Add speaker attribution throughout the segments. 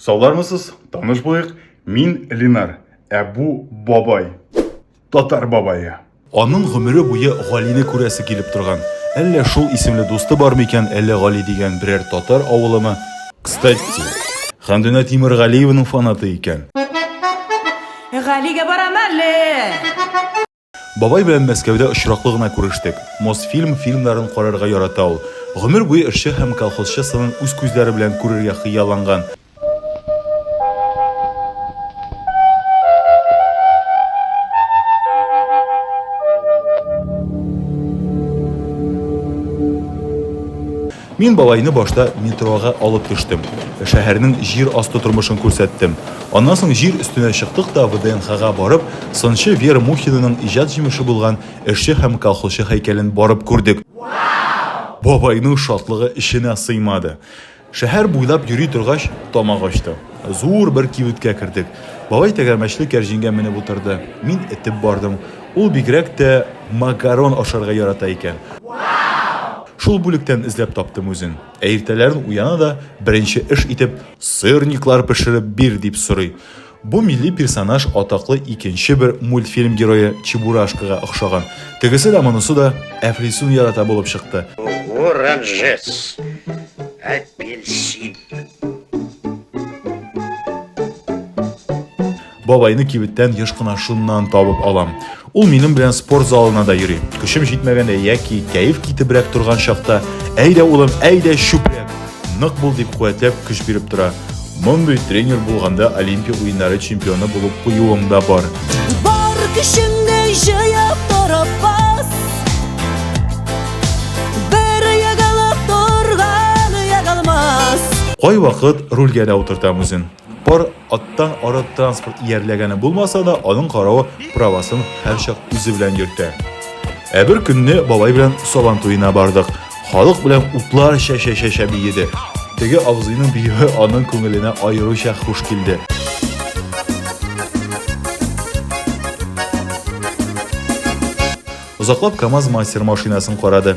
Speaker 1: Саулармысыз, таныш булыйк, мин Ленар, ә бу бабай, татар бабае. Аның гомере буе Галине күрәсе килеп торган. Әллә шул исемле дусты бармы икән, әллә Гали дигән берәр татар авылымы? Кстати, Хәмдүнә Тимергалиеваның фанаты икән. Галигә барам әле! Бабай белән Мәскәүдә очраклы гына күрештек. Мосфильм фильмнарын карарга ярата ул. Гомер буе эшче һәм колхозчы сынын үз күзләре белән күрергә хыялланган. Мин бабайны башта метрога алып төштем. Шәһәрнең җир асты тормышын күрсәттем. Аннан соң җир өстенә чыктык та ВДНХга барып, сынчы Вера Мухинаның иҗат җимеше булган эшче һәм колхозчы һәйкәлен барып күрдек. Бабайның шатлыгы эченә сыймады. Шәһәр буйлап йөри торгач, тамак ачты. Зур бер кибеткә кердек. Бабай тәгәрмәчле кәрҗингә менеп утырды. Мин этеп бардым. Ул бигрәк тә макарон ашарга ярата икән. Шул бүлектән эзләп таптым үзен. Ә иртәләрен уяна да, беренче эш итеп, Сырниклар пешереп бир! дип сорый. Бу милли персонаж атаклы икенче бер мультфильм герое Чебурашкага охшаган. Тегесе дә, монысы да әфлисун ярата булып чыкты. Оранжес, апельсин. Бабайны кибеттән еш кына шуннан табып алам. Ул минем белән спорт залына да йөри. Көчем җитмәгәндә яки кәеф китебрәк торган чакта, әйдә улым, әйдә чүпрәк, нык бул дип куәтләп көч биреп тора. Мондый тренер булганда Олимпия уеннары чемпионы булып куюым да бар. Бар көчеңне җыеп торып бас. Бер ягалап торган ягалмас. Кай вакыт рульгә дә утыртам үзен. Пар аттан арык транспорт иярләгәне булмаса да, аның каравы правасын һәрчак үзе белән йөртә. Ә бер көнне бабай белән Сабан туена бардык. Халык белән утлар чәчә-чәчә биеде. Теге абзыйның биюе аның күңеленә аеруча хуш килде. Озаклап КАМАЗ мастер машинасын карады.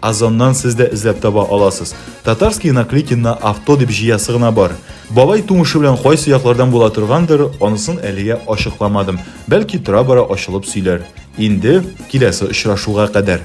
Speaker 1: Озоннан сез дә эзләп таба аласыз. Татарские наклейки на авто дип җыясы гына бар. Бабай тумышы белән кайсы яклардан була торгандыр, анысын әлегә ачыкламадым. Бәлки тора-бара ачылып сөйләр. Инде киләсе очрашуга кадәр.